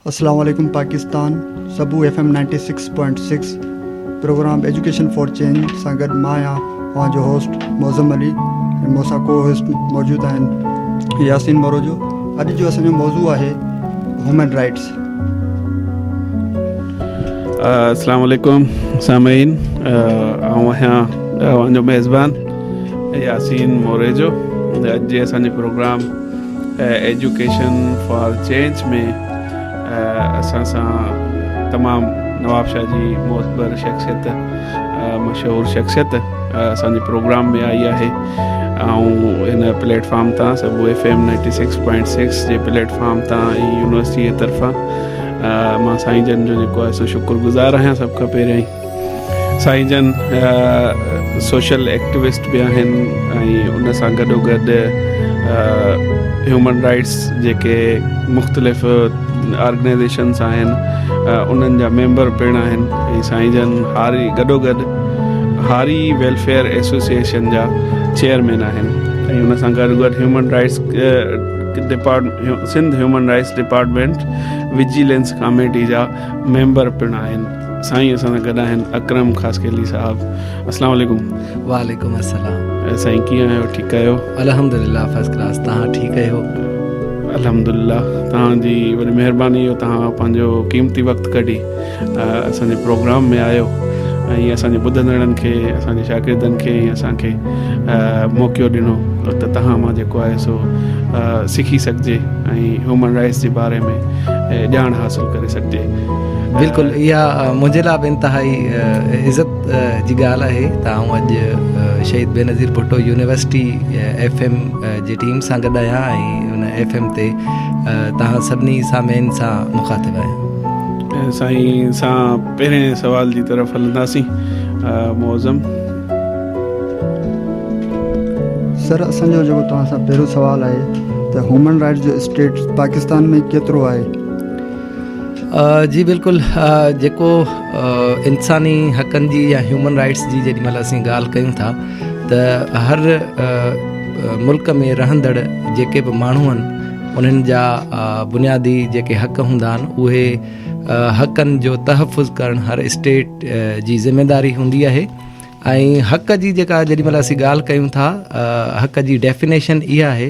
اسلام عليڪم پاڪستان سبو F M ninety six point six program education for change سان گڏ مان آهيان اوهان جو هوسٽ معظم علي ۽ مون سان ڪو هوسٽ موجود آهن ياسين مروجو اڄ جو اسان جو موضوع آهي هيومن رائٽس السلام عليڪم سامعين آئون آهيان اوهان جو ميزبان ياسين موريجو اڄ جي اسان جي پروگرام ايجوڪيشن فار چينج ۾ اسان سان تمام نوابشاهه جي معتبر شخصيت مشهور شخصيت اسان جي پروگرام ۾ آئي آهي ۽ هن پليٽ فارم تان سڀ F M ninety six point six جي پليٽ فارم تان يونيورسٽي جي طرفان مان سائين جن جو جيڪو آهي سو شڪر گذار آهيان سڀ کان پهريائين سائين جن سوشل ايڪٽوسٽ به آهن ۽ ان سان گڏو گڏ هيومن رائٽس جيڪي مختلف آرگنائزيشنس آهن انهن جا ميمبر پڻ آهن ۽ سائين جن هاري گڏو گڏ هاري ويلفيئر ايسوسيئيشن جا چيئرمين آهن ۽ ان سان گڏو گڏ human rights department Sindh human rights department vigilance committee جا ميمبر پڻ آهن سائين اسان سان گڏ آهن اڪرم خاصخيلي صاحب اسلام عليڪم وعليڪم السلام سائين ڪيئن آهيو ٺيڪ آهيو الحمدلله فرسٽ ڪلاس تان ٺيڪ آهيو الحمدلله تان جي وڏي مهرباني جو تان پنهنجو قيمتي وقت ڪڍي اسان جي پروگرام ۾ آيو ۽ اسان جي ٻڌندڙن کي اسان جي شاگردن کي ۽ اسان کي موقعو ڏنو ته تان مان جيڪو آهي سو سکي سگهجي ۽ هيومن رائٽس جي باري ۾ ڄاڻ حاصل ڪري سگهجي بلڪل اها منهنجي لاء به انتهائي عزت جي ڳالهه آهي ته آئون اڄ Shaheed Benazir Bhutto university F M جي ٽيم سان گڏ آهيان ۽ ان ايف ايم تي توهان سڀني سامعين سان مخاطب آهيان سائين سان پهرين سوال جي طرف هلنداسين معظم سر اسان جو جيڪو توهان سان پهريون سوال آهي ته هيومن رائٽس جو اسٽيٽس پاڪستان ۾ ڪيترو آهي جي بلڪل جيڪو انساني حقن جي يا هيومن رائٽس جي جيڏي مهل اسين ڳالهه ڪيون ٿا ته هر ملڪ ۾ رهندڙ جيڪي به ماڻهو آهن انهن جا بنيادي جيڪي حق هوندا آهن اهي حقن جو تحفظ ڪرڻ هر اسٽيٽ جي ذميواري هوندي آهي ۽ حق جي جيڪا جيڏي مهل اسين ڳالهه ڪيون ٿا حق جي ڊيفينيشن اها آهي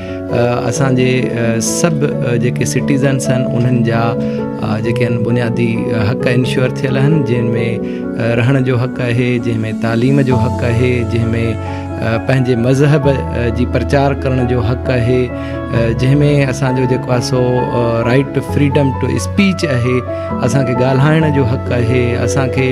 اسان جي سڀ جيڪي سٽيزنس آهن انهن جا جيڪي آهن بنيادي حق انشور ٿيل آهن جن ۾ رهڻ جو حق آهي جنهن ۾ تعليم جو حق آهي جنهن ۾ پنهنجي مذهب جي پرچار ڪرڻ جو حق آهي جنهن ۾ اسانجو جيڪو آهي سو right to freedom to speech آهي اسانکي ڳالهائڻ جو حق آهي اسانکي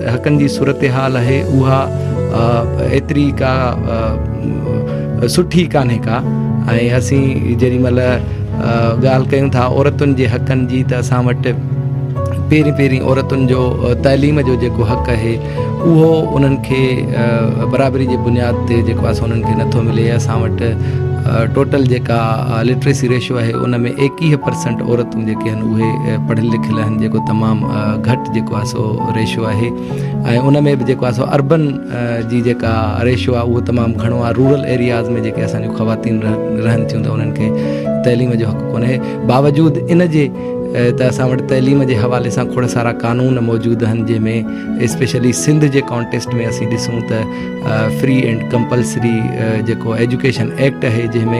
حقن جي صورتحال اهي اها ايتري ڪا سٺي ڪانهي ڪا ۽ اسين جيڏي مهل ڳالهه ڪيون ٿا عورتن جي حقن جي ته اسان وٽ پهرين پهرين عورتن جو تعليم جو جيڪو حق اهي اهو انهن کي برابري جي بنياد تي جيڪو آسان انهن کي نٿو ملي اسان وٽ ٽوٽل جيڪا لٽريسي ريشو آهي ان ۾ ايڪيهه پرسنٽ عورتون جيڪي آهن اهي پڙهيل لکيل آهن جيڪو تمام گهٽ جيڪو آهي سو ريشو آهي ۽ ان ۾ به جيڪو آهي سو اربن جي جيڪا ريشو آهي اهو تمام گهڻو آهي رورل ايرياز ۾ جيڪي اسان جون خواتين رهن ٿيون ته انهن کي تعليم جو حق ڪونهي باوجود ان جي ته اسان وٽ تعليم جي حوالي سان کڙ سارا قانون موجود آهن جنهن ۾ اسپيشلي سنڌ جي ڪانٽيسٽ ۾ اسين ڏسون ته فري اینڈ ڪمپلسري جيڪو ايجوڪيشن ايڪٽ آهي جنهن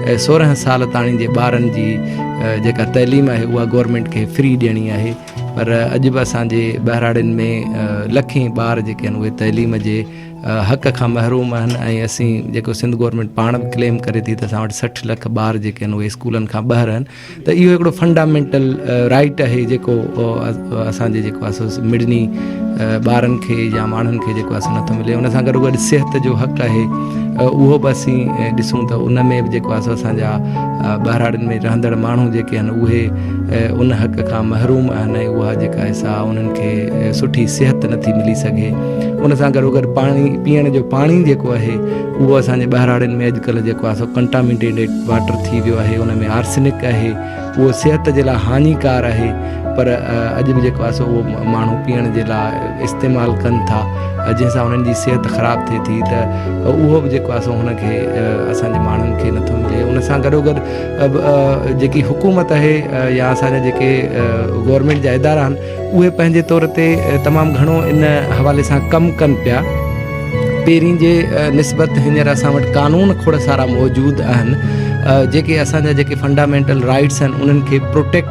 ۾ سورهن سال تائين جي ٻارن جي جيڪا تعليم آهي اها گورمينٽ کي فري ڏيڻي آهي پر اڄ به اسان جي ٻهراڙين ۾ لکين ٻار جيڪي آهن اهي تعليم جي حق کان محروم آهن ۽ اسين جيڪو سنڌ گورنمينٽ پاڻ به ڪليم ڪري ٿي ته اسان وٽ سٺ لک ٻار جيڪي آهن اهي اسڪولن کان ٻاهر آهن ته اهو هڪڙو فنڊامينٽل رائيٽ آهي جيڪو اسانجي جيڪو آسو مڙني ٻارن کي يا ماڻهن کي جيڪو آسو نٿو ملي ان سان گڏو گڏ صحت جو حق آهي اهو به اسين ڏسون ته ان ۾ به جيڪو آسو اسانجا ٻهراڙين ۾ رهندڙ ماڻهو جيڪي آهن اهي ان حق کان محروم آهن ۽ اها جيڪا سا انهن کي سٺي صحت نٿي ملي سگهي ان سان گڏو گڏ پاڻي پيئڻ جو پاڻي جيڪو آهي اهو اسانجي ٻهراڙين ۾ اڄڪلهه جيڪو آهي سو ڪنٽامينٽيڊ واٽر ٿي ويو آهي ان ۾ آرسنڪ آهي اهو صحت جي لاء هاڃيڪار آهي پر اڄ به جيڪو آهي سو اهو ماڻهو پيئڻ جي لاء استعمال ڪن ٿا جنهن سان انهن جي صحت خراب ٿئي ٿي ته اهو به جيڪو آهي سو هن کي اسانجي ماڻهن کي نٿو ملي ان سان گڏو گڏ جيڪي حڪومت آهي يا اسان جا جيڪي گورنمينٽ جا ادارا آهن اهي پنهنجي طور تي تمام گهڻو ان حوالي سان ڪم ڪن پيا پهرين جي نسبت هينئر اسان وٽ قانون کوڙ سارا موجود آهن جيڪي اسان جا جيڪي فنڊامينٽل رائيٽس آهن انهن کي پروٽيڪٽ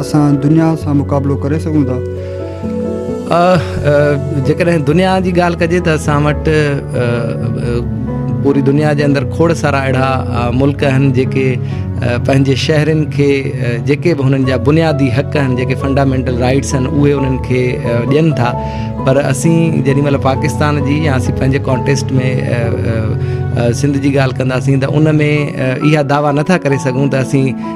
اسان دنيا سان مقابلو ڪري سگهون ٿا؟ جيڪڏهن دنيا جي ڳالهه ڪجي ته اسان وٽ پوري دنيا جي اندر کوڙ سارا اهڙا ملڪ آهن جيڪي پنهنجي شهرين کي جيڪي به هنن جا بنيادي حق آهن جيڪي فنڊامينٽل رائيٽس آهن اهي انهن کي ڏين ٿا پر اسين جيڏي مهل پاڪستان جي يا اسين پنهنجي ڪانٽيسٽ ۾ سنڌ جي ڳالهه ڪنداسين ته ان ۾ اها دعويٰ نٿا ڪري سگهون ته اسين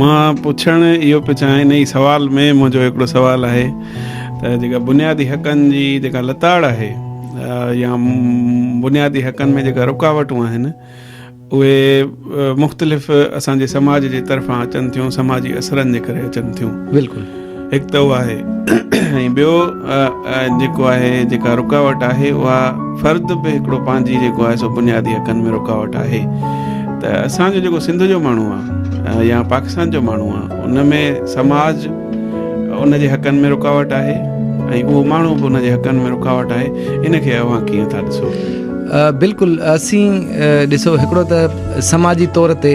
مان پڇڻ اهو پيو چاهيان ان جي سوال ۾ منهنجو هڪڙو سوال آهي ته جيڪا بنيادي حقن جي جيڪا لتاڙ آهي يا بنيادي حقن ۾ جيڪا رڪاوٽون آهن اهي مختلف اسان جي سماج جي طرفان اچن ٿيون سماجي اثرن جي ڪري اچن ٿيون بلڪل هڪ ته اهو آهي ۽ ٻيو جيڪو آهي جيڪا رڪاوٽ آهي اها فرد به هڪڙو پنهنجي جيڪو آهي سو بنيادي حقن ۾ رڪاوٽ آهي ته اسان جو جيڪو سنڌ جو ماڻهو آهي يا پاڪستان جو ماڻهو آهي ان ۾ سماج ان جي حقن ۾ رڪاوٽ آهي ۽ اهو ماڻهو به ان جي حقن ۾ رڪاوٽ آهي ان کي اوهان ڪيئن ٿا ڏسو بلڪل اسين ڏسو هڪڙو ته سماجي طور تي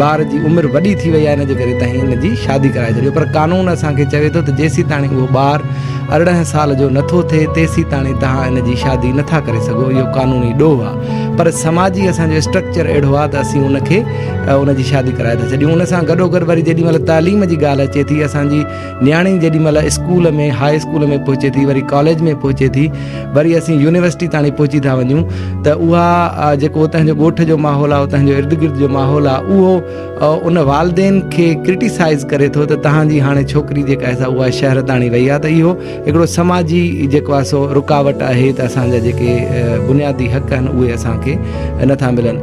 ٻار جي عمر وڏي ٿي وئي آهي ان جي ڪري تهين ان جي شادي ڪرائي ڇڏيو پر قانون اسان کي چوي ٿو ته جيسيتاڻي اهو ٻار ارڙهن سال جو نٿو ٿئي تيسيتاڻي توهان ان جي شادي نٿا ڪري سگهو اهو قانوني ڏوهه آهي پر سماجي اسان جو اسٽرڪچر اهڙو آهي ته اسين ان کي ان جي شادي ڪرائي ٿا ڇڏيون ان سان گڏوگڏ وري جيڏي مهل تعليم جي ڳالهه اچي ٿي اسان جي نياڻي جيڏي مھل اسڪول ۾ ھاء اسڪول ۾ پھچي ٿي وري ڪاليج ۾ پھچي ٿي وري اسين يونيورسٽي تاڻي پھچي ٿا وڃون ته اھا جيڪو اتان جو ڳوٺ جو ماحول آھي اتان جو ارد گرد جو ماحول آھي اھو ان والدين کي ڪرٽيسائز ڪري ٿو ته تھان جي ھاڻي ڇوڪري جيڪا آھي سا اھا شھر تاڻي وئي آھي ته اھو ھڪڙو سماجي جيڪو آھي سو رڪاوٽ آھي ته اسان جا جيڪي بنيادي حق آھن اھي اسان کي نٿا ملن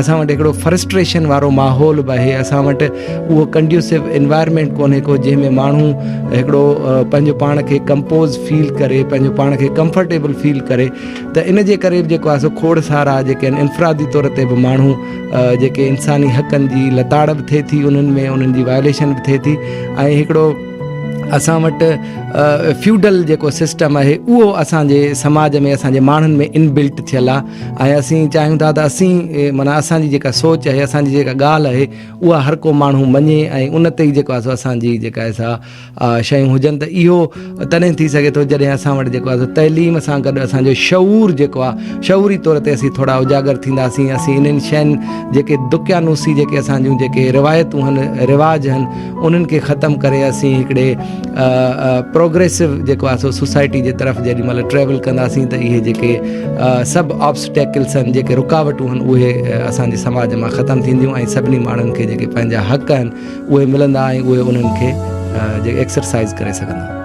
اسان وٽ هڪڙو فرسٽريشن وارو ماحول به آهي اسان وٽ اهو ڪنڊيوسو انوائرمينٽ ڪونهي ڪو جنهن ۾ ماڻهو هڪڙو پنهنجو پاڻ کي ڪمپوز فيل ڪري پنهنجو پاڻ کي ڪمفرٽيبل فيل ڪري ته ان جي ڪري به جيڪو آسو کوڙ سارا جيڪي آهن انفرادي طور تي به ماڻهو جيڪي انساني حقن جي لتاڙ به ٿئي ٿي انهن ۾ انهن جي وائليشن به ٿئي ٿي ۽ هڪڙو اسان وٽ فيوڈل جيڪو سسٽم آهي اهو اسانجي سماج ۾ اسانجي ماڻهن ۾ انبلٽ ٿيل آهي ۽ اسين چاهيون ٿا ته اسين معنيٰ اسان جي جيڪا سوچ آهي اسان جي جيڪا ڳالهه آهي اها هر ڪو ماڻهو مڃي ۽ ان تي جيڪو آهي سو اسان جي جيڪا آهي سا شيون هجن ته اهو تڏهن ٿي سگهي ٿو جڏهن اسان وٽ جيڪو آهي تعليم سان گڏ اسان جو شعور جيڪو آهي شعوري طور تي اسين ٿورا اجاگر ٿينداسين اسين انهن شين جيڪي دقيانوسي جيڪي اسان جون جيڪي روايتون آهن رواج آهن انهن کي ختم ڪري اسين هڪڙي پروگريسو جيڪو آهي سو سوسائٽي جي طرف جيڏي مهل ٽريول ڪنداسين ته اهي جيڪي سڀ آبسٽيڪلس آهن جيڪي رڪاوٽون آهن اهي اسانجي سماج مان ختم ٿينديون ۽ سڀني ماڻهن کي جيڪي پنهنجا حق آهن اهي ملندا ۽ اهي انهن کي جي ايڪسرسائز ڪري سگهندا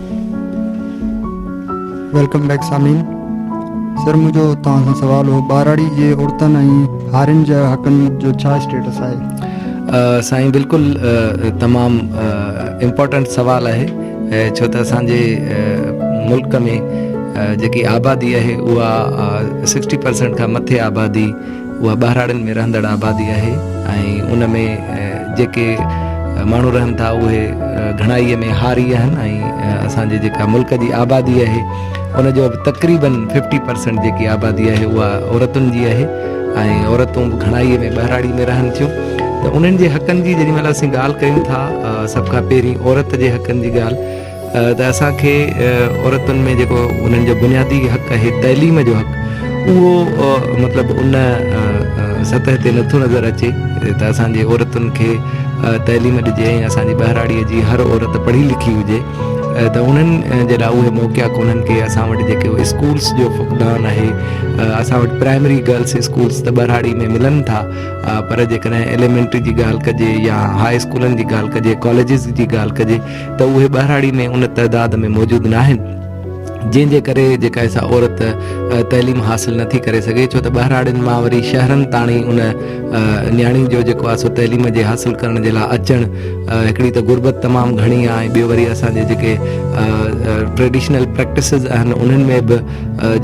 ويلڪم بيڪ سامعين سر منهنجو توهان سان سوال هو ٻاراڙي جي عورتن ۽ هارين جا حقن جو ڇا اسٽيٽس آهي سائين بلڪل تمام امپورٽنٽ سوال آهي ڇو ته اسان جي ملڪ ۾ جيڪي آبادي آهي اها سڪسٽي پرسنٽ کان مٿي آبادي اها ٻهراڙين ۾ رهندڙ آبادي آهي ۽ ان ۾ جيڪي ماڻهو رهن ٿا اهي گهڻائي ۾ هاري آهن ۽ اسان جي جيڪا ملڪ جي آبادي آهي ان جو به تقريبن ففٽي پرسنٽ جيڪي آبادي آهي اها عورتن جي آهي ۽ عورتون به گهڻائي ۾ ٻهراڙي ۾ رهن ٿيون ته انهن جي حقن جي جيڏي مهل اسين ڳالهه ڪيون ٿا سڀ کان پهرين عورت جي حقن جي ڳالهه ته اسان کي عورتن ۾ جيڪو انهن جو بنيادي حق آهي تعليم جو حق اهو مطلب ان سطح تي نٿو نظر اچي ته اسان جي عورتن کي تعليم ڏجي ۽ اسان جي ٻهراڙيء جي هر عورت پڙهي لکي هجي ته انهن جي لاء اهي موقعا ڪونهن ڪي اسان وٽ جيڪو اسڪولس جو فقدان آهي اسان وٽ پرائمري گرلس اسڪولس ته ٻهراڙي ۾ ملن ٿا پر جيڪڏهن ايليمينٽري جي ڳالهه ڪجي يا هاء اسڪولن جي ڳالهه ڪجي ڪاليجز جي ڳالهه ڪجي ته اهي ٻهراڙي ۾ ان تعداد ۾ موجود ناهن جنهن جي ڪري جيڪا سا عورت تعليم حاصل نه ٿي ڪري سگهي ڇو ته ٻهراڙين مان وري شهرن تاڻي ان نياڻي جو جيڪو آهي سو تعليم جي حاصل ڪرڻ جي لاء اچڻ هڪڙي ته غربت تمام گهڻي آهي ٻيو وري اسان جي جيڪي ٽريڊيشنل پريڪٽسز آهن انهن ۾ به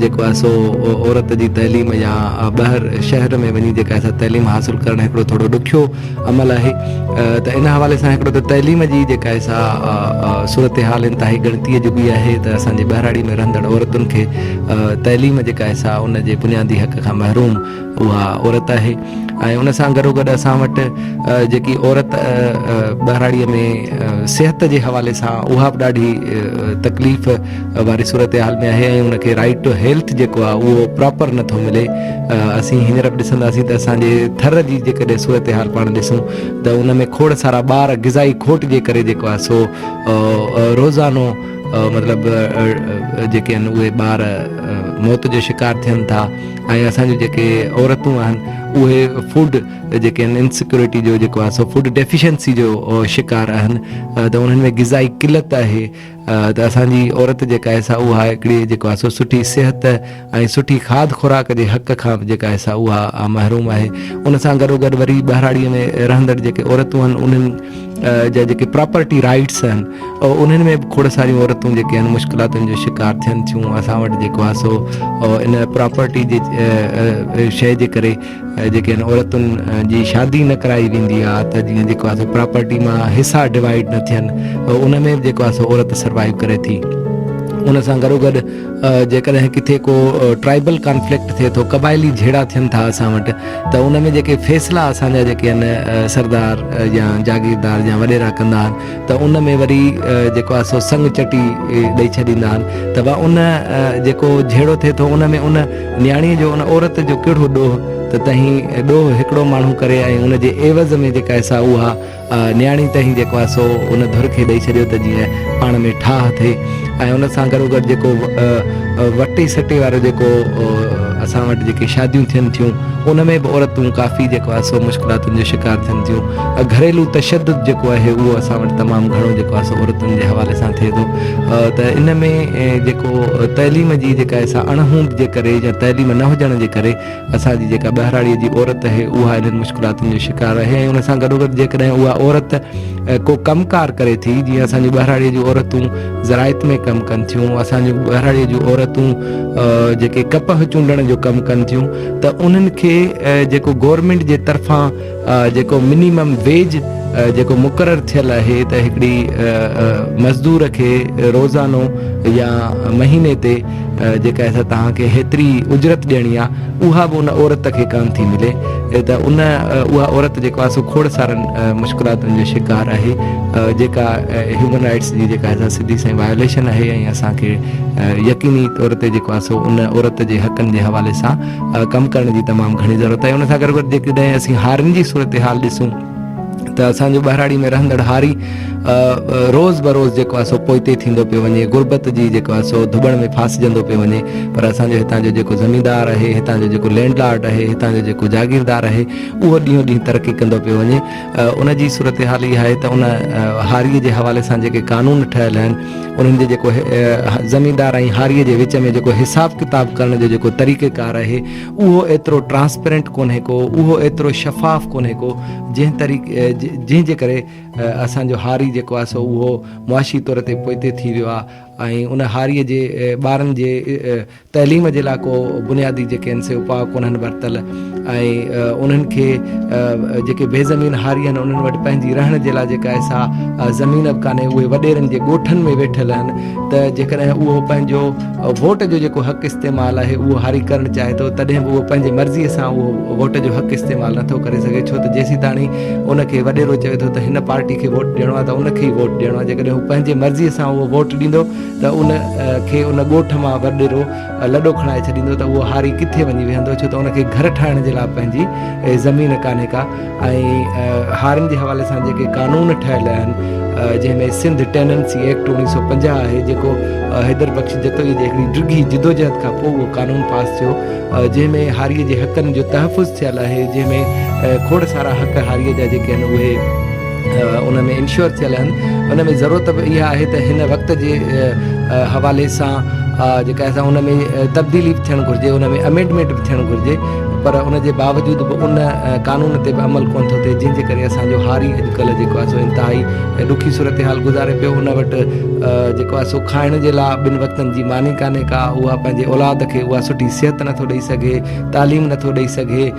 جيڪو آهي سو عورت جي تعليم يا ٻاهر شهر ۾ وڃي جيڪا تعليم حاصل ڪرڻ هڪڙو ٿورو ڏکيو عمل آهي ته ان حوالي سان هڪڙو ته تعليم جي جيڪا سا صورتحال انتهائي ڳڻتي جوڳي آهي ته اسان جي ٻهراڙي ۾ رهندڙ عورتن کي تعليم جيڪا سا ان جي بنيادي حق کان محروم اها عورت آهي ۽ ان سان گڏو گڏ اسان وٽ جيڪي عورت ٻهراڙي ۾ صحت جي حوالي سان اها به ڏاڍي تڪليف واري صورتحال ۾ آهي ۽ ان کي رائيٽ ٽو هيلٿ جيڪو آهي اهو پراپر نٿو ملي اسين هينئر به ڏسنداسين ته اسان جي ٿر جي جيڪڏهن صورتحال پاڻ ڏسون ته ان ۾ کوڙ سارا ٻار غذائي کوٽ جي ڪري جيڪو آهي سو روزانو مطلب جيڪي آهن اهي ٻار موت جو شڪار ٿين ٿا ۽ اسان جون جيڪي عورتون آهن اهي فوڊ جيڪي آهن انسيڪيورٽي جو جيڪو آهي سو فوڊ ڊيفيشنسي جو شڪار آهن ته انهن ۾ غذائي قلت آهي ته اسان جي عورت جيڪا آهي سا اها هڪڙي جيڪو آهي سو سٺي صحت ۽ سٺي کاڌ خوراڪ جي حق کان به جيڪا آهي سا اها محروم آهي ان سان گڏو گڏ وري ٻهراڙيء ۾ رهندڙ جيڪي عورتون آهن انهن جا جيڪي پراپرٽي رائيٽس آهن انهن ۾ به کوڙ ساريون عورتون جيڪي آهن مشڪلاتن جو شڪار ٿين ٿيون اسان وٽ جيڪو آهي سو ان پراپرٽي جي شيء جي ڪري جيڪي عورتن جي شادي نه ڪرائي ويندي آهي ته جيئن جيڪو آهي پراپرٽي مان حصا ڊوائيڊ نه ٿين ان ۾ به جيڪو آهي عورت سروائيو ڪري ٿي ان سان گڏو گڏ جيڪڏهن ڪٿي ڪو ٽرائبل ڪانفلڪٽ ٿئي ٿو قبائلي جھيڙا ٿين ٿا اسان وٽ ته ان ۾ جيڪي فيصلا اسانجا جيڪي آهن سردار يا جاگيردار يا وڏيرا ڪندا آهن ته ان ۾ وري جيڪو آهي سو سنگ چٽي ڏئي ڇڏيندا آهن ته ان جيڪو جھيڙو ٿئي ٿو ان ۾ ان نياڻيء جو ان عورت جو ڪهڙو ڏوهه ته تنهين ڏوهه هڪڙو ماڻهو ڪري ۽ ان جي عيوض ۾ جيڪا آهي سا اها نياڻي تنهين جيڪو آهي سو ان ڌر کي ڏئي ڇڏيو ته جيئن پاڻ ۾ ٺاهه ٿئي ۽ ان سان گڏوگڏ جيڪو وٽي سٽي وارو جيڪو اسان وٽ جيڪي شاديون ٿين ٿيون ان ۾ به عورتون ڪافي جيڪو آهي سو مشڪلاتن جو شڪار ٿين ٿيون گهريلو تشدد جيڪو آهي اهو اسان وٽ تمام گهڻو جيڪو آهي سو عورتن جي حوالي سان ٿئي ٿو ته ان ۾ جيڪو تعليم جي جيڪا سا اڻ هوند جي ڪري يا تعليم نه هجڻ جي ڪري اسان جي جيڪا ٻهراڙيء جي عورت اهي اها انهن مشڪلاتن جو شڪار اهي ۽ ان سان گڏوگڏ جيڪڏهن اها عورت ڪو ڪم ڪار ڪري ٿي جيئن اسان جي ٻهراڙيء جون عورتون زراعت ۾ ڪم ڪن ٿيون اسان جي ٻهراڙيء جون عورتون جيڪي ڪپهه چونڊڻ جو ڪم ڪن ٿيون ته انهن کي جيڪو گورنمينٽ جي طرفان جيڪو منيمم ويج جيڪو مقرر ٿيل آهي ته هڪڙي مزدور کي روزانو يا مهيني تي جيڪا سا توهان کي هيتري اجرت ڏيڻي آ اها به ان عورت کي ڪانه ٿي ملي ته ان اها عورت جيڪو آ سو کوڙ سارن مشڪلاتن جو شڪار آهي جيڪا هيومن رائيٽس جي جيڪا سا سڌي سئي وايوليشن آهي ۽ اسان کي يقيني طور تي جيڪو آ سو ان عورت جي حقن جي حوالي سان ڪم ڪرڻ جي تمام گهڻي ضرورت آهي ان سان گڏ گڏ جيڪڏهن اسين هارين جي صورتحال ڏسون ته اسان جو ٻهراڙي ۾ رهندڙ هاري روز بروز جيڪو آهي سو پوئتي ٿيندو پيو وڃي غربت جي جيڪو آهي سو ڌٻڻ ۾ ڦاسجندو پيو وڃي پر اسان جو هتان جو جيڪو زميندار آهي هتان جو جيڪو لينڊ لارڊ آهي هتان جو جيڪو جاگيردار آهي اهو ڏينهون ڏينهن ترقي ڪندو پيو وڃي ان جي صورتحال اها آهي ته ان هاري جي حوالي سان جيڪي قانون ٺهيل آهن انهن جي جيڪو زميندار ۽ هاريء جي وچ ۾ جيڪو حساب ڪتاب ڪرڻ جو جيڪو طريقه ڪار آهي اهو ايترو ٽرانسپيرنٽ ڪونهي ڪو اهو ايترو شفاف ڪونهي ڪو جنهن طريقي جنهن جي ڪري اسان جو هاري جيڪو آهي سو اهو معاشي طور تي پوئتي ٿي ويو آهي ۽ ان هاريء جي ٻارن جي تعليم جي لاء ڪو بنيادي جيڪي آهن سي اپاء ڪونهن ورتل ۽ انهن کي جيڪي بي زمين هاري آهن انهن وٽ پنهنجي رهڻ جي لاء جيڪا آهي سا زمين به ڪانهي اهي وڏيرن جي ڳوٺن ۾ ويٺل آهن ته جيڪڏهن اهو پنهنجو ووٽ جو جيڪو حق استعمال آهي اهو هاري ڪرڻ چاهي ٿو تڏهن به اهو پنهنجي مرضي سان اهو ووٽ جو حق استعمال نٿو ڪري سگهي ڇو ته جيسين تاڻي ان کي وڏيرو چوي ٿو ته هن پارٽي کي ووٽ ڏيڻو آهي ته ان کي ئي ووٽ ڏيڻو آهي جيڪڏهن هو پنهنجي مرضي سان اهو ووٽ ڏيندو ته ان کي ان ڳوٺ مان وڏيرو لڏو کڻائي ڇڏيندو ته اهو هاري ڪٿي وڃي ويهندو ڇو ته ان کي گهر ٺاهڻ جي لاء پنهنجي زمين ڪانهي ڪا ۽ هارين جي حوالي سان جيڪي قانون ٺهيل آهن جنهن ۾ سنڌ ٽيننسي ايڪٽ اوڻيهه سؤ پنجاهه آهي جيڪو حيدر بخش جتوئي جي هڪڙي ڊگهي جدوجهد کان پوء اهو قانون پاس ٿيو جنهن ۾ هاري جي حقن جو تحفظ ٿيل آهي جنهن ۾ کوڙ سارا حق هاري جا جيڪي آهن اهي ان ۾ انشور ٿيل آهن ان ۾ ضرورت به اها آهي ته هن وقت جي حوالي سان جيڪا اسان ان ۾ تبديلي به ٿيڻ گهرجي ان ۾ امينڊمينٽ به ٿيڻ گهرجي پر ان جي باوجود به ان قانون تي به عمل ڪونه ٿو ٿئي جنهن جي ڪري اسانجو هاري اڄڪلهه جيڪو آهي سو انتهائي ڏکي صورتحال گذاري پيو ان وٽ جيڪو آهي سو کائڻ جي لاء ٻن وقتن جي ماني ڪانهي ڪا اها پنهنجي اولاد کي اها سٺي صحت نٿو ڏئي سگهي تعليم نٿو ڏئي سگهي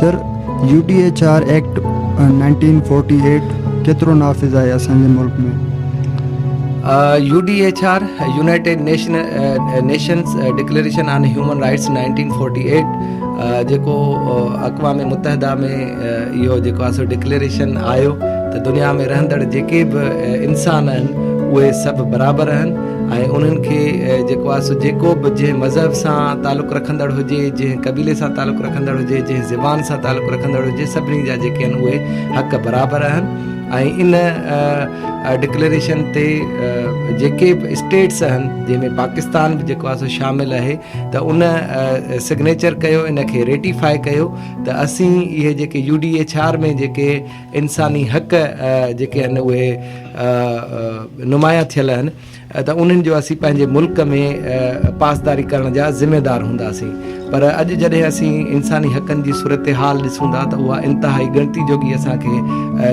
sir, U D H R act nineteen forty eight ڪيترو نافذ آهي اسان جي ملڪ ۾؟ U D H R, United Nations declaration on human rights nineteen forty eight جيڪو اقوام متحده ۾ اهو جيڪو آهي سو ڊڪليريشن آيو ته دنيا ۾ رهندڙ جيڪي به انسان آهن اهي سڀ برابر آهن ۽ انهن کي جيڪو آهي سو جيڪو به جنهن مذهب سان تعلق رکندڙ هجي جنهن قبيلي سان تعلق رکندڙ هجي جنهن زبان سان تعلق رکندڙ هجي سڀني جا جيڪي آهن اهي حق برابر آهن ۽ ان ڊڪليريشن تي جيڪي به اسٽيٽس آهن جنهن ۾ پاڪستان به جيڪو آهي سو شامل آهي ته ان سگنيچر ڪيو ان کي ريٽيفائي ڪيو ته اسين اهي جيڪي يو ڊي ايڇ آر ۾ جيڪي انساني حق جيڪي آهن اهي نمايان ٿيل آهن ته انهن جو اسين پنهنجي ملڪ ۾ پاسداري ڪرڻ جا ذميوار هونداسين پر اڄ جڏهن اسين انساني حقن جي صورتحال ڏسون ٿا ته اها انتهائي ڳڻتي جوڳي اسان کي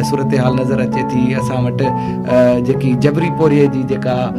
صورتحال نظر اچي ٿي اسان وٽ جيڪي جبري پورهيي جي جيڪا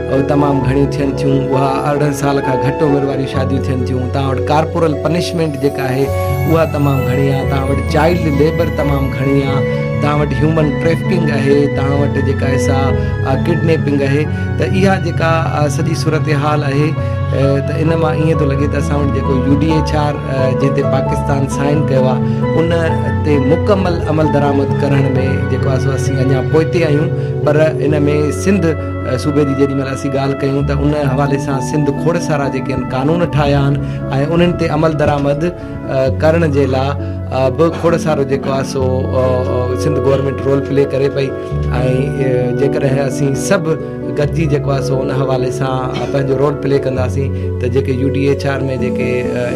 اهي تمام گهڻيون ٿين ٿيون. اها ارڙهن سال کان گهٽ عمر واريون شاديون ٿين ٿيون. توهان وٽ ڪارپورل پنشمينٽ جيڪا آهي اها تمام گهڻي آهي. توهان وٽ چائلڊ ليبر تمام گهڻي آهي. توهان وٽ هيومن ٽريفڪنگ آهي. توهان وٽ جيڪا آهي سا ڪڊنيپنگ آهي. ته اها جيڪا سڄي صورتحال آهي ته ان مان ائين ٿو لڳي ته اسان وٽ جيڪو يو ڊي ايڇ آر جنهن تي پاڪستان سائن ڪيو آهي ان تي مڪمل عملدرآمد ڪرڻ ۾ جيڪو آهي سو اسين اڃا پوئتي آهيون پر ان ۾ سنڌ صوبي جي جيڏي مهل اسين ڳالهه ڪيون ته ان حوالي سان سنڌ کوڙ سارا جيڪي آهن قانون ٺاهيا آهن ۽ انهن تي عمل درآمد ڪرڻ جي لا به کوڙ سارو جيڪو آهي سو سنڌ گورنمينٽ رول پلي ڪري پئي ۽ جيڪڏهن اسين سڀ گڏجي جيڪو آهي سو ان حوالي سان پنهنجو رول پلي ڪنداسين ته جيڪي يو ڊي ايچ آر ۾ جيڪي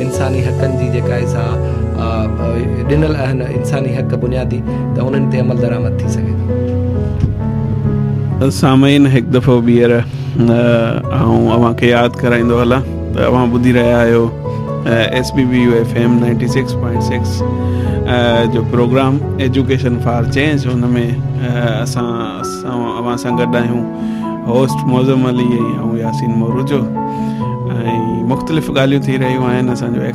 انساني حقن جي جيڪا آهي سا ڏنل آهن انساني حق بنيادي ته انهن تي عمل درآمد ٿي سگهي ٿو سامعين هڪ دفعو ٻيهر آئون اوهان کي ياد ڪرائيندو هلان ته اوهان ٻڌي رهيا آهيو S B B U F M ninety six point six جو پروگرام ايجوڪيشن فار چينج ان ۾ اسان اوهان سان گڏ آهيون هوسٽ معظم علي ۽ آئون ياسين مورجو ۽ مختلف ڳالهيون ٿي رهيون آهن اسانجو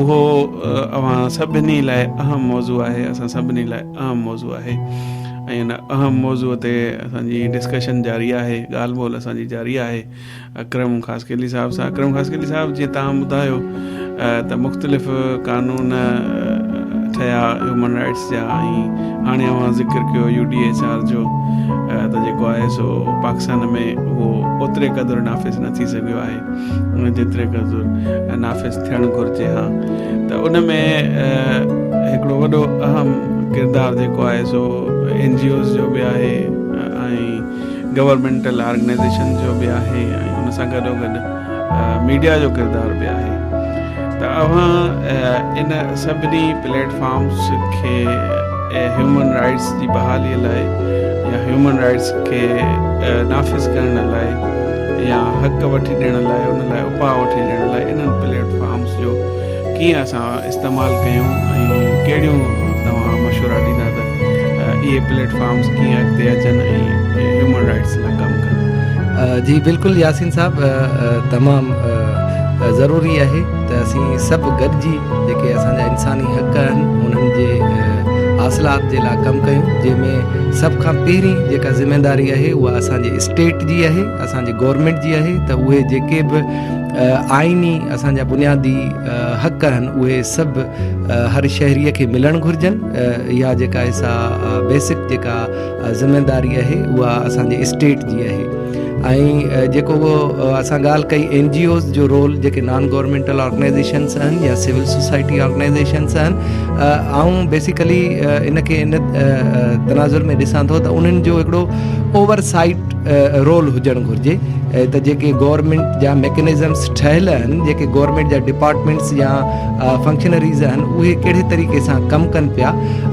اهو اوهان سڀني لاء اهم موضوع آهي اسان سڀني لاء اهم موضوع آهي ۽ ان اهم موضوع تي اسان جي ڊسڪشن جاري آهي ڳالهه ٻولهه اسان جي جاري آهي اڪرم خاص قلي صاحب سان اڪرم خاص قلي صاحب جي تان ٻڌايو ته مختلف قانون ٺهيا هيومن رائٽس جا ۽ هاڻي اوهان ذڪر ڪيو يو ڊي ايچ آر جو ته جيڪو آهي سو پاڪستان ۾ اهو اوتري قدر نافذ نه ٿي سگهيو آهي ان جيتري قدر نافذ ٿيڻ گهرجي ها ته ان ۾ هڪڙو وڏو اهم ڪردار جيڪو آهي سو اين جي اوز جو به آهي ۽ گورنمينٽل آرگنائزيشن جو به آهي ۽ ان سان گڏو گڏ ميڊيا جو ڪردار به آهي ته اوهان ان سڀني پليٽ فارمز کي ۽ هيومن رائٽس جي بحالي لاء يا هيومن رائٽس کي نافذ ڪرڻ لاء يا حق وٺي ڏيڻ لاء ان لاء اپاء وٺي ڏيڻ لاء انهن پليٽ فارمس جو ڪيئن اسان استعمال ڪيون ۽ ڪهڙيون توهان مشورا ڏيندا ته اهي پليٽ فارمس ڪيئن اڳتي اچن ۽ هيومن رائٽس لاء ڪم ڪن. جي بلڪل ياسين صاحب تمام ضروري آهي ته اسين سڀ گڏجي جيڪي اسان جا انساني حق آهن انهن جي حاصلات جي لاء ڪم ڪيون جنهن ۾ سڀ کان پهرين جيڪا ذميواري آهي اها اسان جي اسٽيٽ جي آهي اسان جي گورنمينٽ جي آهي ته اهي جيڪي به آئيني اسان جا بنيادي حق آهن اهي سڀ هر شهري کي ملڻ گهرجن اها جيڪا سا بيسڪ جيڪا ذميواري آهي اها اسان جي اسٽيٽ جي آهي ۽ جيڪو اسان ڳالهه ڪئي اين جي اوز جو رول جيڪي نان گورمينٽل آرگنائزيشنس آهن يا سول سوسائٽي آرگنائزيشنس آهن آئون بيسيڪلي ان کي ان تناظر ۾ ڏسان ٿو ته انهن جو هڪڙو اوور سائيٽ رول هجڻ گهرجي ته جيڪي گورمينٽ جا ميڪنزمس ٺهيل آهن جيڪي گورمينٽ جا ڊپارٽمينٽس يا فنڪشنري ذهن اهي ڪهڙي طريقي سان ڪم ڪن پيا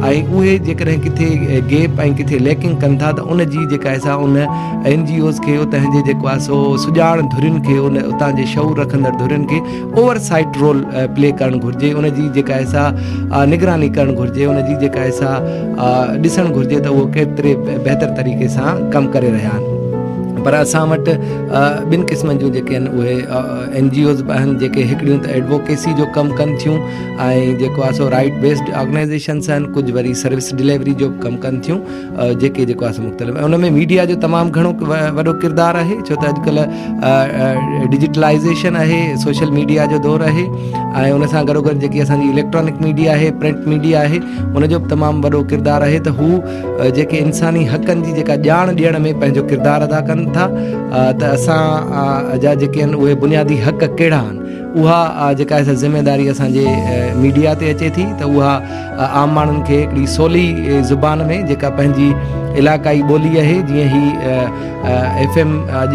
۽ اهي جيڪڏهن ڪٿي گيپ ۽ ڪٿي ليڪنگ ڪن ٿا ته ان جي جيڪا آهي سا ان اين جي اوز کي اتان جي جيڪو آهي سو سڄاڻ ڌرين کي ان اتان جي شعور رکندڙ ڌرين کي اوور سائيٽ رول پلي ڪرڻ گهرجي ان جي جيڪا آهي سا نگراني ڪرڻ گهرجي ان جي جيڪا آهي سا ڏسڻ گهرجي ته اهو ڪيتري بهتر طريقي سان ڪم ڪري رهيا آهن پر اسان وٽ ٻن قسمن جون جيڪي آهن اهي اين جي اوز به آهن جيڪي هڪڙيون ته ايڊووڪيسي جو ڪم ڪن ٿيون ۽ جيڪو آهي سو رائيٽ بيسڊ آرگنائيزيشنس آهن ڪجهه وري سروس ڊليوري جو به ڪم ڪن ٿيون جيڪي جيڪو آهي سو مختلف ۽ ان ۾ ميڊيا جو تمام گهڻو وڏو ڪردار آهي ڇو ته اڄڪلهه ڊجيٽلائيزيشن آهي سوشل ميڊيا جو دور آهي ۽ ان سان گڏو گڏ جيڪي اسان جي اليڪٽرانڪ ميڊيا آهي پرنٽ ميڊيا آهي ان جو به تمام وڏو ڪردار آهي ته هو جيڪي انساني حقن جي جيڪا ڄاڻ ڏيڻ ۾ پنهنجو ڪردار ادا ڪن ٿا ته اسان جا جيڪي آهن اهي بنيادي حق ڪهڙا آهن اها جيڪا سا ذميواري اسانجي ميڊيا تي اچي ٿي ته اها عام ماڻهن کي هڪڙي سولي زبان ۾ جيڪا پنهنجي علاقائي ٻولي آهي جيئن هي ايف ايم اڄ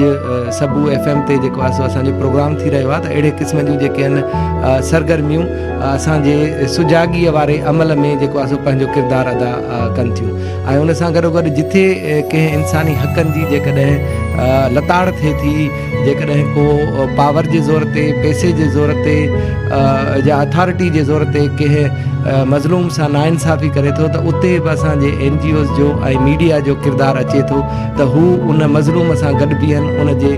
سبو ايف ايم تي جيڪو آهي سو اسان جو پروگرام ٿي رهيو آهي ته اهڙي قسم جون جيڪي آهن سرگرميون اسان جي سجاڳيء واري عمل ۾ جيڪو آهي سو پنهنجو ڪردار ادا ڪن ٿيون ۽ ان سان گڏو گڏ جتي ڪنهن انساني حقن جي جيڪڏهن لتاڙ ٿئي ٿي جيڪڏهن ڪو پاور جي زور تي پئسي جي زور تي يا اٿارٽي جي زور تي ڪنهن مظلوم سان ناانصافي ڪري ٿو ته اتي به اسان جي اين جي اوز جو ۽ ميڊيا جو ڪردار اچي ٿو ته هو ان مظلوم سان گڏ بيهن، ان جي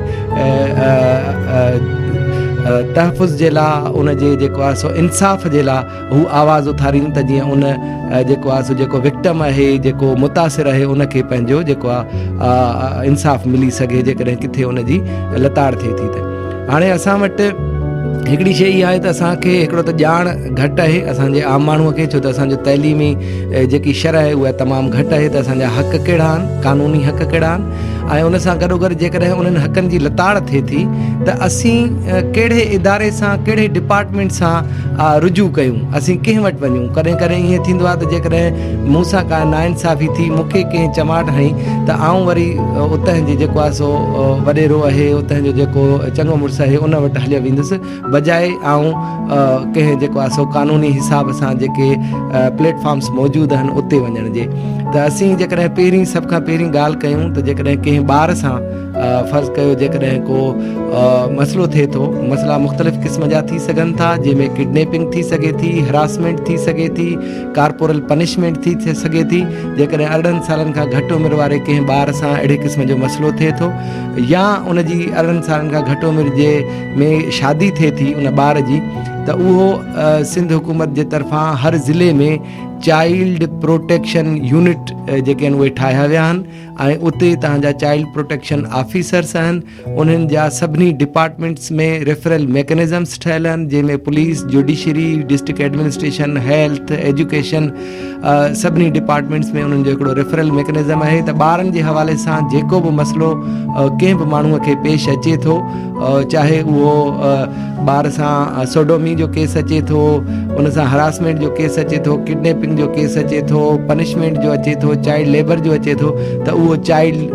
تحفظ جي لاء، ان جي جيڪو آهي سو انصاف جي لاء هو آواز اٿارين ته جيئن ان جيڪو آهي سو جيڪو وڪٽم آهي، جيڪو متاثر آهي، ان کي پنهنجو جيڪو آهي انصاف ملي سگهي، جيڪڏهن ڪٿي ان جي لتاڙ ٿئي ٿي ته. هاڻي اسان وٽ هڪڙي شيء اها آهي ته اسان کي هڪڙو ته ڄاڻ گهٽ آهي اسان جي عام ماڻهوء کي ڇو ته اسان جو تعليمي جيڪي شرح آهي اها تمام گهٽ آهي ته اسان جا حق ڪهڙا آهن قانوني حق ڪهڙا آهن ۽ ان سان گڏو گڏ جيڪڏهن انهن حقن جي لتاڙ ٿئي ٿي ته اسين ڪهڙي اداري سان ڪهڙي ڊپارٽمينٽ سان رجوع ڪيون اسين ڪنهن وٽ وڃون ڪڏهن ڪڏهن ائين ٿيندو آهي ته جيڪڏهن مون سان ڪا ناانصافي ٿي، مون کي ڪنهن چماٽ هنئي ته آئون وري اتهن جي جيڪو آهي سو وڏيرو اهي اتهن جو جيڪو چڱو مڙس اهي ان وٽ هليو ويندس بجاء آئون ڪنهن جيڪو آهي سو قانوني حساب سان جيڪي پليٽ فارمس موجود اهن اتي وڃڻ جي ته اسين جيڪڏهن پهرين سڀ کان پهرين ڳالهه ڪيون ته جيڪڏهن ڪنهن ٻار سان فرض ڪيو جيڪڏهن ڪو مسئلو ٿئي ٿو مسئلا مختلف قسم جا ٿي سگهن ٿا جنهن ۾ ڪڊنيپنگ ٿي سگهي ٿي هراسمينٽ ٿي سگهي ٿي ڪارپورل پنشمينٽ ٿي ٿي سگهي ٿي جيڪڏهن ارڙهن سالن کان گهٽ عمر واري ڪنهن ٻار سان اهڙي قسم جو مسئلو ٿئي ٿو يا ان جي ارڙهن سالن کان گهٽ عمر جي ۾ شادي ٿئي ٿي ان ٻار جي ته اهو سنڌ حڪومت جي طرفان هر ضلعي ۾ چائلڊ پروٽيڪشن يونٽ جيڪي آهن اهي ٺاهيا ويا آهن ۽ اتي تهان جا چائلڊ پروٽيڪشن آفيسرس آهن انهن جا سڀني ڊپارٽمينٽس ۾ ريفرل ميڪنزمس ٺهيل آهن جنهن ۾ police, judiciary, district administration, health, education سڀني ڊپارٽمينٽس ۾ انهن جو هڪڙو ريفرل ميڪنزم آهي ته ٻارن جي حوالي سان جيڪو به مسئلو ڪنهن به ماڻهو کي پيش اچي ٿو چاهي اهو ٻار سان سوڊومي جو ڪيس اچي ٿو ان سان هراسمينٽ جو ڪيس اچي ٿو ڪڊنيپنگ جو ڪيس اچي ٿو پنشمينٽ جو اچي ٿو چائلڊ ليبر جو اچي ٿو ته اهو چائلڊ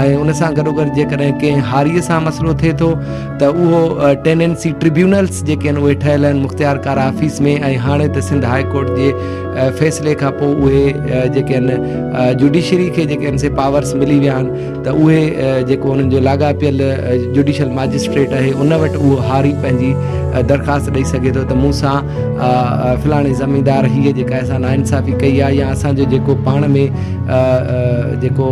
۽ ان سان گڏوگڏ جيڪڏهن ڪنهن هاريء سان مسئلو ٿئي ٿو ته اهو ٽيننسي ٽربيونلز جيڪي آهن اهي ٺهيل آهن مختيار ڪار آفيس ۾ ۽ هاڻي ته سنڌ هاء ڪورٽ جي فيصلي کان پوء اهي جيڪي آهن جوڊيشري کي جيڪي آهن سي پاورس ملي ويا آهن ته اهي جيڪو انهن جو لاڳاپيل جوڊيشل ماجسٽريٽ آهي ان وٽ اهو هاري پنهنجي درخواست ڏئي سگهي ٿو ته مون سان فلاڻي زميندار هيء جيڪا اسان سان ناانصافي ڪئي آهي يا اسان جو جيڪو پاڻ ۾ جيڪو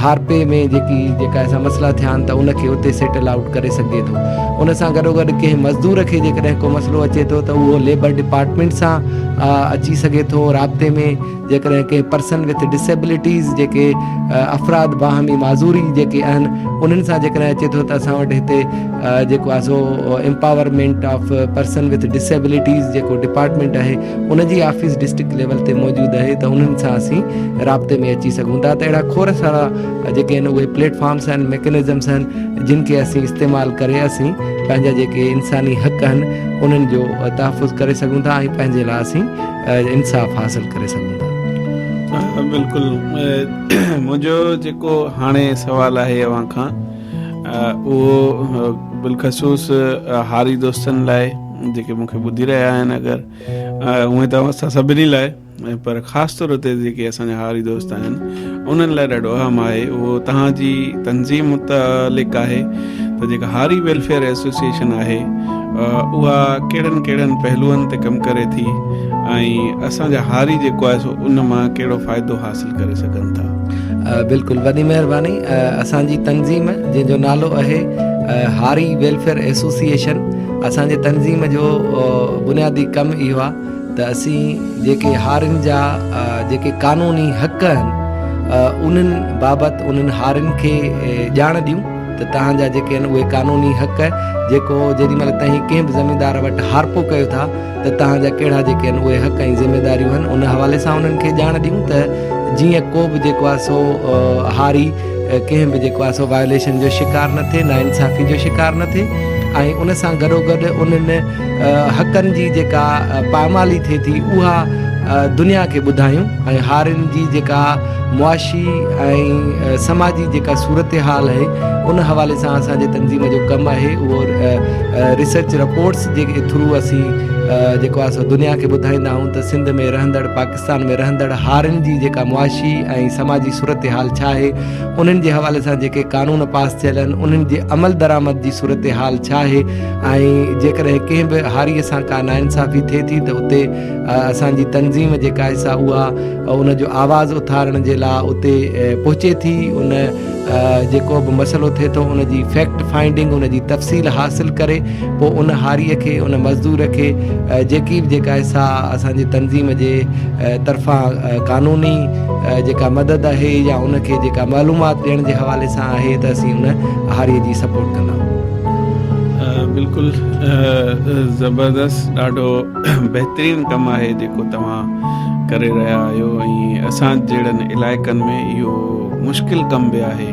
هارپي ۾ جيڪي جيڪا اسان مسئلا ٿيا آهن ته ان کي اتي سيٽل آئوٽ ڪري سگهجي ٿو ان سان گڏو گڏ ڪنهن مزدور کي جيڪڏهن ڪو مسئلو اچي ٿو ته اهو ليبر ڊپارٽمينٽ سان اچي سگهي ٿو رابطي ۾ جيڪڏهن ڪنهن پرسن وٿ ڊسيبلٽيز جيڪي افراد باهمي معذوري جيڪي اهن انهن سان جيڪڏهن اچي ٿو ته اسان وٽ هتي جيڪو آهي سو empowerment of person with disabilities جيڪو ڊپارٽمينٽ آهي ان جي آفيس ڊسٽرڪٽ ليول تي موجود آهي ته انهن سان اسين رابطي ۾ اچي سگهون ٿا ته اهڙا کوڙ سارا جيڪي آهن اهي پليٽ فارمس آهن ميڪنزمس آهن جن کي اسين استعمال ڪري اسين پنهنجا جيڪي انساني حق آهن انهن جو تحفظ ڪري سگهون ٿا ۽ پنهنجي لاء اسين انصاف حاصل ڪري سگهون ٿا. بلڪل منهنجو جيڪو هاڻي سوال آهي اوهان کان اهو بلخصوص هاري دوستن لاء جيڪي مون کي ٻڌي رهيا آهن اگر هونئن ته اوهان سان سڀني لاء پر خاص طور تي جيڪي اسان جا هاري دوست آهن انهن لاء ڏاڍو اهم آهي اهو توهان جي تنظيم متعلق آهي ته جيڪا هاري ويلفيئر ايسوسيئيشن آهي اها ڪهڙن ڪهڙن پهلوئن تي ڪم ڪري ٿي ۽ اسان جا هاري جيڪو آهي سو ان مان ڪهڙو فائدو حاصل ڪري سگهن ٿا بلڪل وڏي مهرباني اسان جي تنظيم جنهن جو نالو آهي هاري ويلفيئر ايسوسيئيشن اسان جي تنظيم جو بنيادي ڪم اهو آهي ته اسين جيڪي هارين جا جيڪي قانوني حق آهن انهن بابت انهن هارين کي ڄاڻ ڏيون ته توهان جا جيڪي آهن اهي قانوني حق جيڪو جيڏي مهل توهين ڪنهن به زميندار وٽ هارپو ڪيو ٿا ته توهان جا ڪهڙا جيڪي آهن اهي حق ۽ ذميداريون آهن ان حوالي سان انهن کي ڄاڻ ڏيون ته جيئن ڪو به جيڪو آهي سو هاري ڪنهن به جيڪو آهي سو وائوليشن جو شڪار نه ٿئي نا انصافي جو شڪار نه ٿئي ۽ ان سان گڏو گڏ انهن حقن جي جيڪا پائمالي ٿئي ٿي اها دنيا کي ٻڌايون ۽ هارين جي جيڪا معاشي ۽ سماجي جيڪا صورتحال آهي ان حوالي سان اسانجي تنظيم جو ڪم آهي اهو ريسرچ رپورٽس جي ٿرو اسين جيڪو آهي سو دنيا کي ٻڌائيندا آهيون ته سنڌ ۾ رهندڙ پاڪستان پاڪستان ۾ رهندڙ هارين جي جيڪا معاشي ۽ سماجي صورتحال ڇا آهي، انهن جي حوالي سان جيڪي قانون پاس ٿيل آهن، انهن جي عملدرآمد جي صورتحال ڇا آهي ۽ جيڪڏهن ڪنهن به هاريء سان ڪا ناانصافي ٿئي ٿي ته اتي اسان جي تنظيم جيڪا آهي سا اها ان جو آواز اٿارڻ جي لاء اتي پهچي ٿي، ان جيڪو به مسئلو ٿئي ٿو ان جي فيڪٽ فائنڊنگ ان جي تفصيل حاصل ڪري پوء ان هاري کي ان مزدور کي جيڪي به جيڪا حصا اسان جي تنظيم جي طرفان قانوني جيڪا مدد آهي يا ان کي جيڪا معلومات ڏيڻ جي حوالي سان آهي ته اسين ان هاري جي سپورٽ ڪندا آهيون بلڪل زبردست ڏاڍو بهترين ڪم آهي جيڪو توهان ڪري رهيا آهيو ۽ اسان جهڙن علائقن ۾ اهو مشڪل ڪم به آهي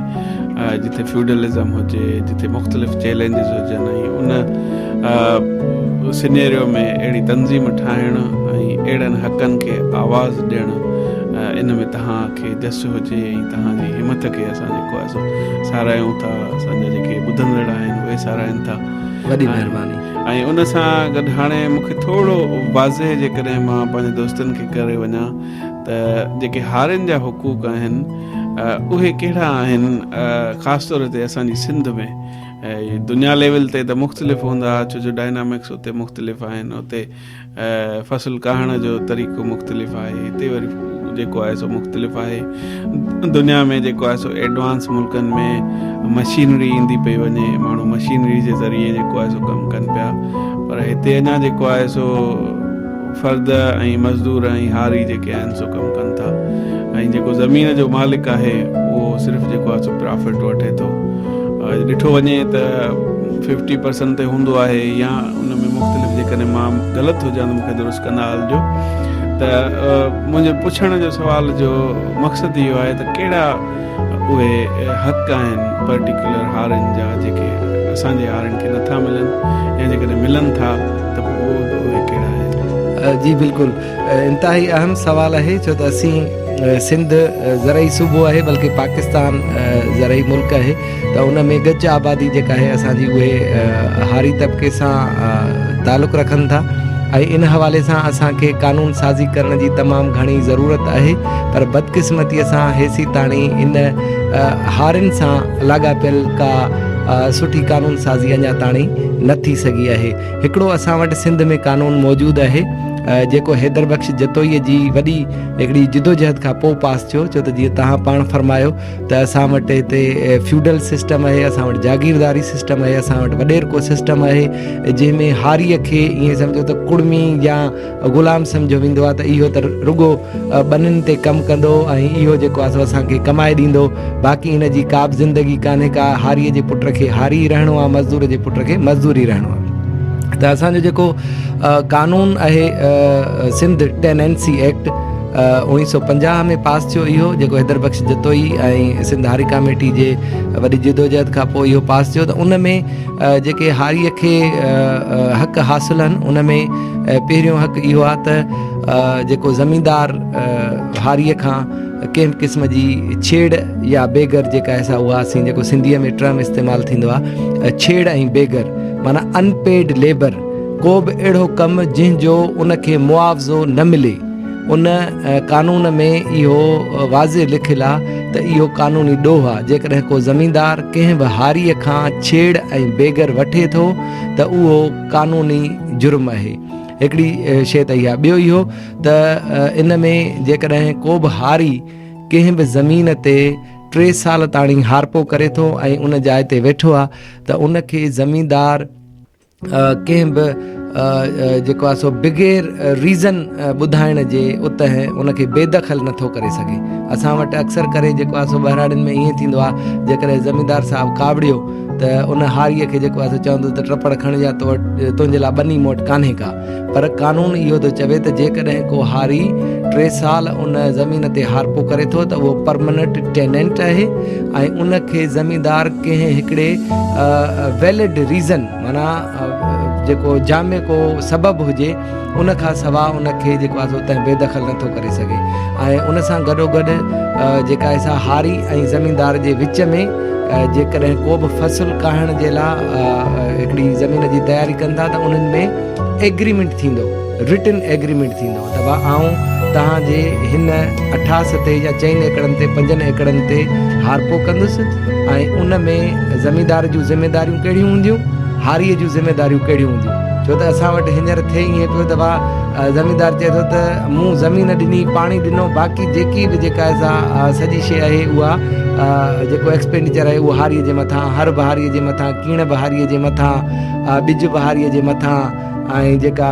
جتي فيوڊلزم هجي جتي مختلف چيلينجز هجن ۽ ان سينيريو ۾ اهڙي تنظيم ٺاهڻ ۽ اهڙن حقن کي آواز ڏيڻ ان ۾ تهان کي جس هجي ۽ تهان جي همٿ کي اسان جيڪو آهي سو ساراهيون ٿا اسان جا جيڪي ٻڌندڙ آهن اهي ساراهين ٿا وڏي مهرباني ۽ ان سان گڏ هاڻي مونکي ٿورو واضح جيڪڏهن مان پنهنجي دوستن کي ڪري وڃان ته جيڪي هارين جا حقوق آهن اهي ڪهڙا آهن خاص طور تي اسان جي سنڌ ۾ دنيا ليول تي ته مختلف هوندا ڇو جو ڊائنامڪس اتي مختلف آهن اتي فصل ڪاهڻ جو طريقو مختلف آهي هتي وري جيڪو آهي سو مختلف آهي دنيا ۾ جيڪو آهي سو ايڊوانس ملڪن ۾ مشينري ايندي پئي وڃي ماڻهو مشينري جي ذريعي جيڪو آهي سو ڪم ڪن پيا پر هتي اڃا جيڪو آهي سو فرد ۽ مزدور ۽ هاري جيڪي آهن سو ڪم ڪن ٿا ۽ جيڪو زمين جو مالڪ آهي اهو صرف جيڪو آهي سو پرافٽ وٺي ٿو اڄ ڏٺو وڃي ته ففٽي پرسنٽ تي هوندو آهي يا ان ۾ مختلف جيڪڏهن مان غلط هجان مون کي درست ڪندا هلجو ته منهنجو پڇڻ جو سوال جو مقصد اهو آهي ته ڪهڙا اهي حق آهن پرٽيڪيولر هارين جا جيڪي اسان جي هارين کي نٿا ملن يا جيڪڏهن ملن ٿا ته پوء اهي به ڪهڙا آهن؟ جي بلڪل انتهائي اهم سوال آهي ڇو ته اسين سنڌ زرعي صوبو آهي بلڪه پاڪستان زرعي ملڪ آهي ته ان ۾ ڳچ آبادي جيڪا آهي اسان جي اهي هاري طبقي سان تعلق رکن ٿا ۽ ان حوالي سان اسان کي قانون سازي ڪرڻ جي تمام گهڻي ضرورت آهي پر بدقسمتيء سان هيسيتاڻي ان هارين سان لاڳاپيل ڪا سٺي قانون سازي اڃا تاڻي نه ٿي سگهي آهي. هڪڙو اسان وٽ سنڌ ۾ قانون موجود آهي، جيڪو حيدر بخش جتوئيء جي وڏي هڪڙي جدوجهد کان پوء پاس ٿيو، ڇو ته جيئن توهان پاڻ فرمايو ته اسان وٽ هتي فيوڊل سسٽم آهي، اسان وٽ جاگيرداري سسٽم آهي، اسان وٽ وڏيرڪو سسٽم آهي، جنهن ۾ هاريء کي ائين سمجهو ته ڪڙمي يا غلام سمجهيو ويندو آهي ته اهو ته رڳو ٻنين تي ڪم ڪندو ۽ اهو جيڪو آهي سو اسان کي ڪمائي ڏيندو، باقي هن جي ڪابه زندگي ڪانهي ڪا، هاريء جي پٽ کي هاري ئي رهڻو آهي، مزدور جي پٽ کي مزدور ئي رهڻو آهي. ته اسان جو جيڪو قانون آهي سنڌ ٽيننسي ايڪٽ اوڻيهه سؤ پنجاهه ۾ پاس ٿيو اهو جيڪو حيدر بخش جتوئي ۽ سنڌ هاري ڪاميٽي جي وڏي جدوجهد کانپوء اهو پاس ٿيو ته ان ۾ جيڪي هاريء کي حق حاصل آهن ان ۾ پهريون حق اهو آهي ته جيڪو زميندار هاريء کان ڪنهن به قسم جي ڇيڙ يا بيگر جيڪا احسا اها اسين جيڪو سنڌيء ۾ ٽرم استعمال ٿيندو آهي ڇيڙ ۽ بيگر معنيٰ ان پيڊ ليبر ڪو به اهڙو ڪم جنهن جو ان کي معاوضو نه ملي ان قانون ۾ اهو واضح لکيل آ ته اهو قانوني ڏوهه آ، جيڪڏهن ڪو زميندار ڪنهن به هاريء کان ڇيڙ ۽ بيگر وٺي ٿو ته اهو قانوني جرم اهي. هڪڙي شيء ته اها ٻيو اهو ته ان ۾ جيڪڏهن ڪو به هاري ڪنهن به زمين تي ٽي سال تاڻي هارپو ڪري ٿو ۽ ان جاء تي ويٺو آ ته ان کي زميندار، ڪنهن به جيڪو آهي سو بغير ريزن ٻڌائڻ جي اتي ان کي بي دخل نٿو ڪري سگهي اسان وٽ اڪثر ڪري جيڪو آهي سو ٻهراڙين ۾ ائين ٿيندو آهي جيڪڏهن زميندار صاحب ڪاوڙيو ته ان هاريء کي جيڪو آهي سو چوندو ته ٽپڙ کڻ يا تو وٽ تنهنجي لاء ٻني مون وٽ کانهي ڪا پر قانون اهو ٿو چوي ته جيڪڏهن ڪو هاري ٽي سال ان زمين تي هارپو ڪري ٿو ته اهو پرمننٽ ٽيننٽ آهي ۽ ان کي زميندار ڪنهن هڪڙي ويلڊ ريزن معنيٰ جيڪو جامع ڪو سبب هجي ان کان سوا ان کي جيڪو آهي سو تنهن بي دخل نٿو ڪري سگهي ۽ ان سان گڏو گڏ جيڪا آهي سا هاري ۽ زميندار جي وچ ۾ جيڪڏهن ڪو به فصل ڪاهڻ جي لاء هڪڙي زمين جي تياري ڪن ٿا ته انهن ۾ ايگريمينٽ ٿيندو، رٽن ايگريمينٽ ٿيندو ته ڀا آئون توهان جي هن اٺاس تي يا چئن ايڪڙن تي پنجن ايڪڙن تي هارپو ڪندس ۽ ان ۾ زميندار جون ذميداريون ڪهڙيون هونديون، هاريء جون ذميداريون ڪهڙيون هونديون. ڇو ته اسان وٽ هينئر ٿئي ائين پيو ته ڀا زميندار چئي ٿو ته مون زمين ڏني، پاڻي ڏنو باقي جيڪي به جيڪا سا سڄي شيء آهي اها جيڪو ايڪسپينڊيچر آهي اهو هاريء جي مٿان، هر به هاريء جي مٿان، ڪيڻ به هاريء جي مٿان. اها ٻج به هاريء جي مٿان ۽ جيڪا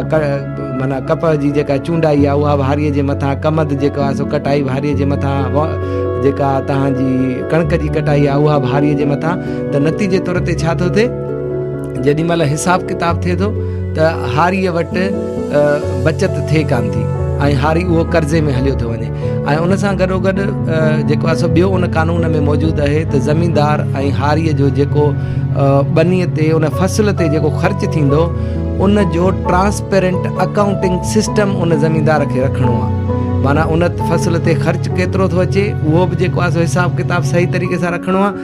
معنيٰ ڪپهه جي جيڪا چونڊائي آهي اها به هاريء جي مٿان، ڪمند جيڪو آهي سو ڪٽائي به هاريء جي مٿان، جيڪا توهان جي ڪڻڪ جي ڪٽائي آهي اها به هاريء جي مٿان ته نتيجي طور تي ڇا ٿو ٿئي جيڏي مهل حساب ڪتاب ٿئي ٿو ته هاريء وٽ بچت ٿئي ڪانه ٿي ۽ هاري اهو قرضي ۾ هليو ٿو وڃي. ۽ ان سان گڏوگڏ جيڪو آسو ٻيو ان قانون ۾ موجود اهي ته زميندار ۽ هاري جو جيڪو ٻني تي ان فصل تي جيڪو خرچ ٿيندو ان جو ٽرانسپيرنٽ اڪائونٽنگ سسٽم ان زميندار کي رکڻو آ معنيٰ ان فصل تي خرچ ڪيترو ٿو اچي اهو به جيڪو آسو حساب ڪتاب صحيح طريقي سان رکڻو آ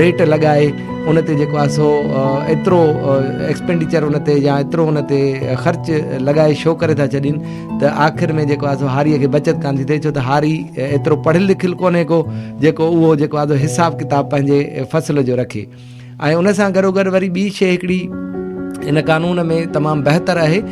ريٽ لڳائي ان تي جيڪو آهي سو ايترو ايڪسپينڊيچر ان تي يا ايترو ان تي خرچ لڳائي شو ڪري ٿا ڇڏين ته آخر ۾ جيڪو آهي سو هاري کي بچت ڪان ٿي ٿئي ڇو ته هاري ايترو پڙهيل لکيل ڪونهي ڪو جيڪو اهو جيڪو آهي حساب ڪتاب پنهنجي فصل جو رکي ۽ ان سان گڏو گڏ وري ٻي شي هڪڙي ان قانون ۾ تمام بهتر آهي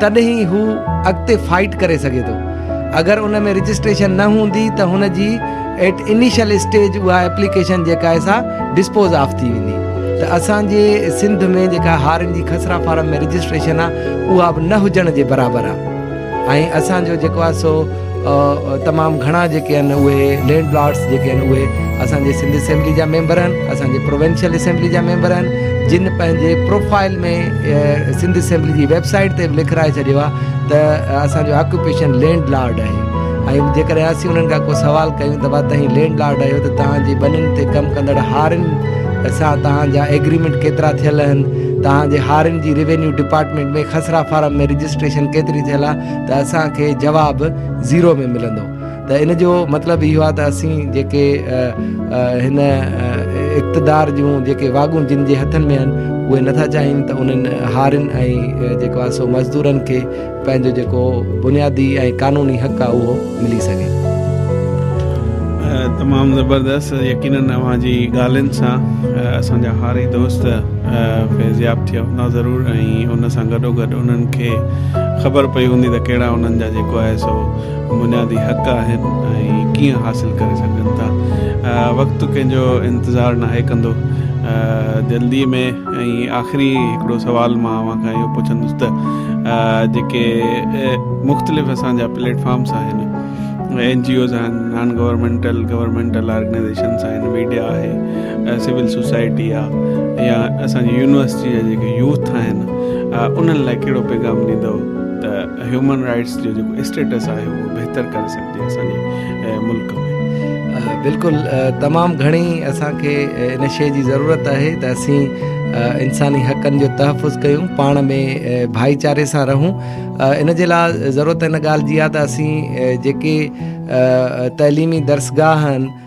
تڏهن ئي هو اڳتي فائيٽ ڪري سگهي ٿو اگر ان ۾ رجسٽريشن نه هوندي ته هن جي ايٽ انيشل اسٽيج اها ايپليڪيشن جيڪا آهي سا ڊسپوز آف ٿي ويندي ته اسان جي سنڌ ۾ جيڪا هارين جي خسرا فارم ۾ رجسٽريشن آهي اها به نه هجڻ جي برابر آهي ۽ اسان جو جيڪو آهي سو تمام گهڻا جيڪي آهن اهي لينڊ لارڊس جيڪي آهن اهي اسان جي سنڌ اسيمبلي جا ميمبر آهن اسان جي پروونشل اسيمبلي جا ميمبر آهن جن پنهنجي پروفائل ۾ سنڌ اسيمبلي جي ويبسائيٽ تي به لکرائي ڇڏيو آهي ته اسانجو آڪوپيشن لينڊ لارڊ آهي ۽ جيڪڏهن اسين انهن کان ڪو سوال ڪيون ته ڀا تهين لينڊ لارڊ آهيو ته تهان جي ٻنين تي ڪم ڪندڙ هارين سان تهان جا ايگريمينٽ ڪيترا ٿيل آهن تهان جي هارين جي ريونيو ڊپارٽمينٽ ۾ خسرا فارم ۾ رجسٽريشن ڪيتري ٿيل آهي ته اسان کي جواب زيرو ۾ ملندو ته ان جو مطلب اهو آهي ته اسين جيڪي هن اقتدار جون جيڪي واڳون جن جي هٿن ۾ آهن اهي نٿا چاهين ته انهن هارين ۽ جيڪو آهي سو مزدورن کي پنهنجو جيڪو بنيادي ۽ قانوني حق آهي اهو ملي سگهي. تمام زبردست يقينن اوهان جي ڳالهين سان اسان جا هاري دوست فيضياب ٿيا هوندا ضرور ۽ ان سان گڏو گڏ انهن کي خبر پئي هوندي ته ڪهڙا انهن جا جيڪو آهي سو بنيادي حق آهن ۽ ڪيئن حاصل ڪري سگهجن ٿا وقت ڪنهن جو انتظار ناهي ڪندو جلدي ۾ ۽ آخري هڪڙو سوال مان اوهان کان اهو پڇندس ته جيڪي مختلف اسان جا پليٽ فارمس آهن اين جي اوز آهن نان گورنمنٽل گورنمنٽل آرگنائزيشنس آهن ميڊيا آهي سول سوسائٽي آهي يا اسان جي يونيورسٽي جا جيڪي يوٿ آهن انهن لاء ڪهڙو پيغام ڏيندو ته هيومن رائٽس جو جيڪو اسٽيٽس آهي اهو بهتر ڪري سگهجي اسان جي ملڪ ۾ بلڪل تمام گهڻي اسان کي ان شيء جي ضرورت آهي ته اسين انساني حقن جو تحفظ ڪيون پاڻ ۾ ڀائيچاري سان رهون ان جي لاء ضرورت ان ڳالهه جي آهي ته اسين جيڪي تعليمي درسگاهن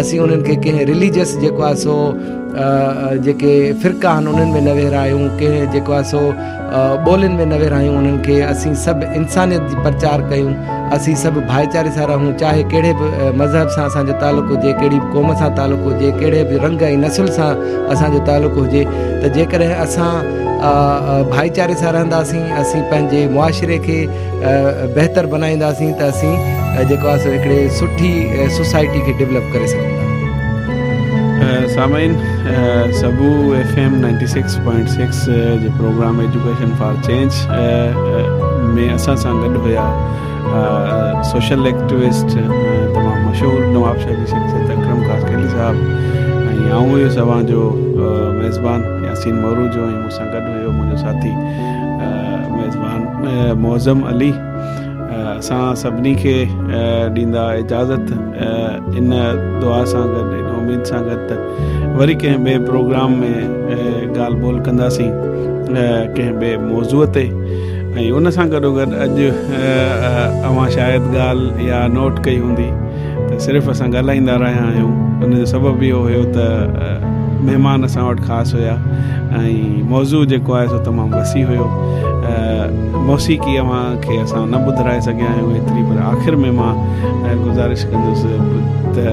اسين انهن کي ڪنهن رليجس جيڪو آهي سو جيڪي فرقا آهن انهن ۾ نه ويهرايون ڪنهن جيڪو آهي سو ٻولين ۾ نه ويهرايون انهن کي اسين سڀ انسانيت جي پرچار ڪيون اسين سڀ ڀائيچاري سان رهون چاهي ڪهڙي به مذهب سان اسانجو تعلق هجي ڪهڙي به قوم سان تعلق هجي ڪهڙي به رنگ ۽ نسل سان اسانجو تعلق هجي ته جيڪڏهن اسان ڀائيچاري سان رهنداسين اسين پنهنجي معاشري کي بهتر بنائينداسين ته اسين جيڪو آهي سو هڪڙي سٺي سوسائٽي کي ڊولپ ڪري سگهون ٿا. سامعين سگهو F M ninety six point six جي پروگرام ايجوڪيشن فار چينج ۾ اسان سان گڏ هيا سوشل ايڪٽوسٽ تمام مشهور نواب شاهه جي شخصيت اڪرم خاصخيلي صاحب ۽ آئون هيس اوهان جو ميزبان ياسين مورو جو سان گڏ هيو منهنجو ساٿي ميزبان معظم علي اسان سڀني کي ڏيندا اجازت ان دعا سان گڏ ان اميد سان گڏ ته وري ڪنهن ٻئي پروگرام ۾ ڳالهه ٻولهه ڪنداسين ڪنهن ٻئي موضوع تي ۽ ان سان گڏوگڏ اڄ اوهان شايد ڳالهه يا نوٽ ڪئي هوندي ته صرف اسان ڳالهائيندا رهيا آهيون ان جو سبب اهو هيو ته مهمان اسان وٽ خاص هيا ۽ موضوع جيڪو آهي سو تمام وسيع هيو موسيقي اوهان کي اسان نه ٻڌرائي سگهيا آهيون ايتري پر آخر ۾ مان گذارش ڪندس ته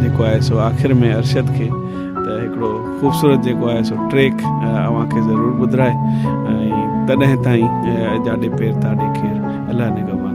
جيڪو آهي سو آخر ۾ ارشد کي ته هڪڙو خوبصورت جيڪو آهي سو ٽريڪ اوهان کي ضرور ٻڌرائي ۽ تڏهن تائين اجاڏي پير تاڏي کير الله نگهبان